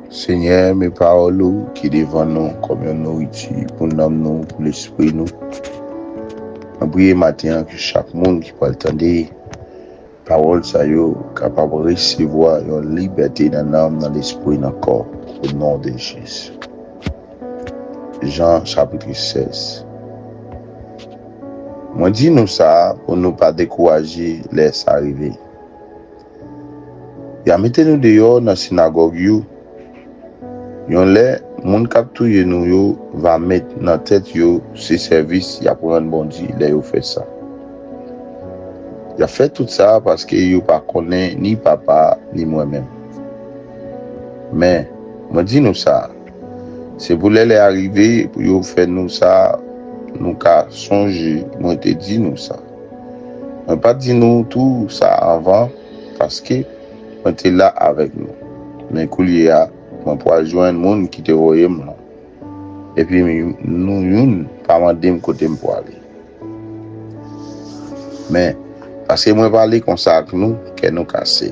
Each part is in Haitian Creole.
Senyè, men pawòl ou ki devan nou kòm yon nouriti pou nanm nou, pou lespri nou. Mwen priye maten an ke chak moun ki pral tande pawòl sa yo kapab resevwa yon libète nan nanm, nan lespri, nan kò, o non de Jezi. Jan chapitre 16 Mwen di nou sa pou nou pa dekouraje lè sa rive. Y'a mete nou deyò nan sinagòg you. Yon lè, moun k'ap touye nou yo va met nan tèt yo se sèvis y'ap rann Bondye lè yo fè sa. Y'ap fè tout sa paske yo pa konnen ni Papa a ni mwen menm. Men, mwen di nou sa, se pou lè lè a rive pou yo fè nou sa nou ka sonje mwen te di nou sa. Mwen pa t di nou tou sa anvan, paske, mwen te la avèk nou. Men koulye a, mwen pral jwenn moun ki te voye m lan, epi nou youn pa mande m kote m prale. Men, paske mwen pale konsa ak nou, kè nou kase.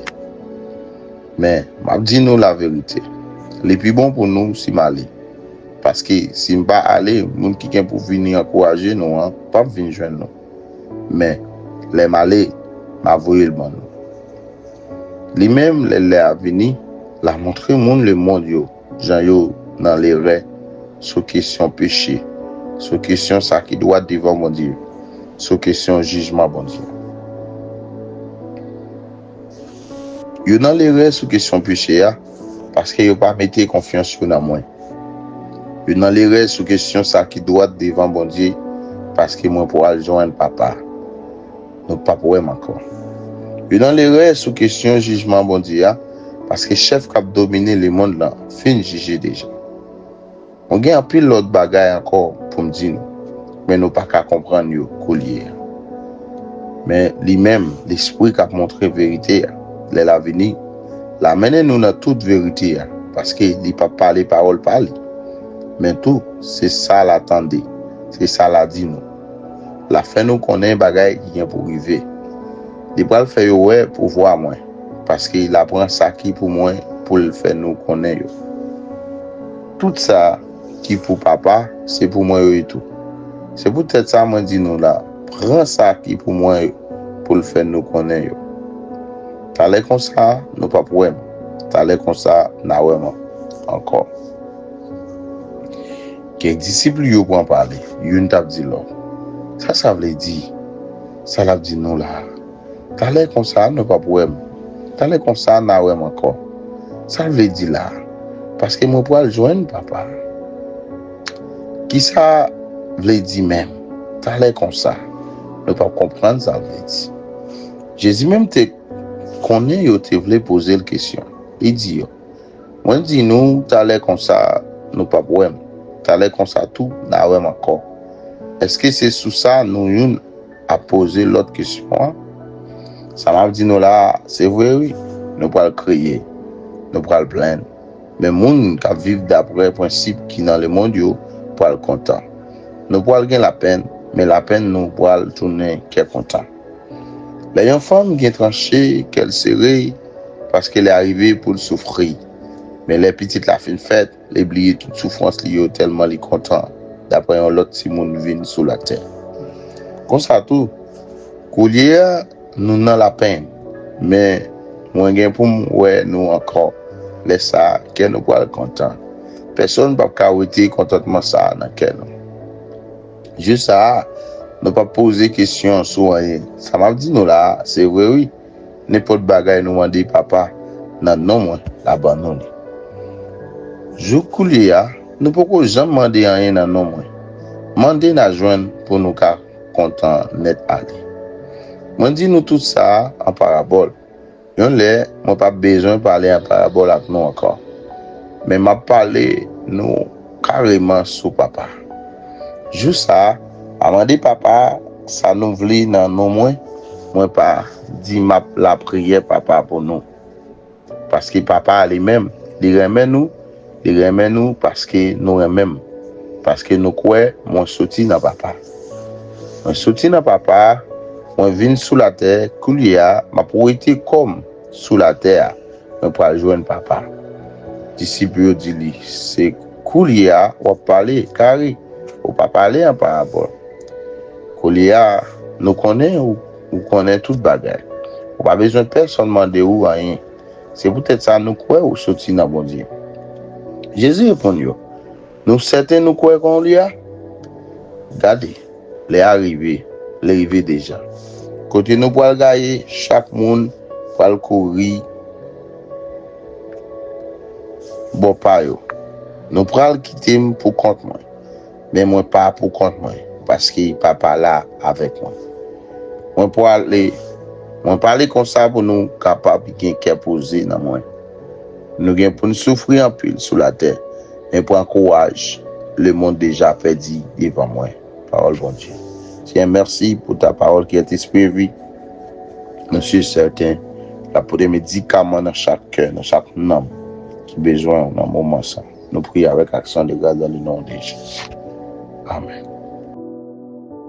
Men, m ap di nou laverite, li pi bon pou nou si m ale. Paske si n pa ale, moun ki gen pou vini ankouraje nou an pap vin jwenn nou. Men, lè m ale, m a voye l ban nou. Li menm, lè lè a vini, l a montre moun lemonn yo jan yo nan lerè sou kesyon peche, sou kesyon sa ki dwat devan Bondye, sou kesyon jijman Bondye. Yo nan lerè sou kesyon peche a, paske yo pa mete konfyans yo nan mwen. Yo nan lerè sou kesyon sa ki dwat devan Bondye, paske mwen pwal jwenn Papa. Nou pap wè m ankò. Yo nan lerè sou kesyon jijman Bondye a, paske chèf k ap domine lemonn lan fin jije deja. Mwen gen anpil lòt bagay ankò pou m di nou, men nou pa ka konprann yo koulye a. Men, li menm, Lespri k ap montre verite a, lè l a vini, l a mennen nou nan tout verite a, paske li pap pale pawòl pa li, men tou, se sa l a tande, se sa l a di nou. L a fè nou konnen bagay ki gen pou rive. Li pral fè yo wè pouvwa mwen, paske l a pran sa ki pou mwen pou l fè nou konnen yo. Tout sa ki pou Papa, se pou mwen yo ye tou. Se poutèt sa mwen di nou la, pran sa ki pou mwen yo, pou l fè nou konnen yo. Talè konsa, nou p ap wè m, talè konsa, n a wè m ankò. Kèk disip li yo pran pale, youn t ap di lòt, Sa sa vle di, sa l ap di nou la a? Talè konsa nou pap wè m. Talè konsa na wè m ankò. Sa l vle di la a? Paske mwen pral jwenn papa m. Ki sa vle di menm? Talè konsa nou pap konprann sa l vle di. Jezi menm te konnen yo te vle poze l kesyon. Li di yo, Mwen di nou, talè konsa nou pap wè m. Talè konsa tou na wè m ankò. Èske se sou sa nou youn ap poze lòt kesyon an, sa m ap di nou la a, se vre wi, nou pral kriye, nou pral plenn, men moun k ap viv dapre prensip ki nan lemonn yo pral kontan. Nou pral gen lapenn, men lapenn nou pral tounen kè kontan. Lè yon fanm gen tranche, kè l sere, paske lè a rive pou l soufri. Men lè pitit la fin fèt, Li bliye tout soufrans li yo tèlman li kontan daprè yon lòt timoun vin sou latè. Konsa tou, koulye a nou nan lapenn, men mwen gen pou m wè nou ankò, lè sa a kè nou pral kontan. Pèsonn pap ka wete kontantman sa a nan kè nou. Jou sa a, nou pap poze kesyon sou anyen. Sa m ap di nou la a, se vre wi. Nenpòt bagay nou mande Papa nan non mwen, l a ban nou li. Jouk koulye a, nou poko janm mande anyen nan non mwen. Mande, n a jwenn pou nou ka kontan nèt ale. Mwen di nou tout sa a an parabòl. Yon lè, mwen p ap bezwen pale an parabòl ak nou ankò, men m ap pale nou Kareman sou papa. Jou sa a, a mande papa a, sa nou vle nan non mwen, mwen pa di map lapriyè papa pou nou. Paske papa a li menm, li renmen nou, li renmen nou paske nou renmen m, paske nou kwè mwen soti nan papa. Mwen soti nan papa a, mwen vin sou latè, koulye a map wete kò m sou latè a. Mwen pral jwenn Papa. Disip yo di li, Se koulye a w ap pale, kare, ou pa pale an parabòl. Koulye a, nou konnen ou, ou konnen tout bagay. Ou pa bezwen pèsonn mande ou anyen. Se poutèt sa nou kwè ou soti nan Bondye. Jezi reponn yo. Nou sèten nou kwè kon li a? Gade, lè a rive, li rive deja. Kote nou pral gaye, chak moun pral kouri bò pa yo. Nou pral kite m pou kont mwen, men mwen pa pou kont mwen, paske Papa la avèk mwen. Mwen pwale, mwen pale konsa pou nou kapab gen kè poze nan mwen. Nou gen pou n soufri anpil sou latè, men pran kouraj, lemond deja pèdi devan mwen. Pawòl Bondye. Senyè mèsi pou ta pawòl ki est esprit et vie. Mwen si sèten l ap pote medikaman nan chak kè, nan chak nanm ki bezwen w nan moman sa. Nou priye avèk aksyon de gras dan le non de Jezi. Amen.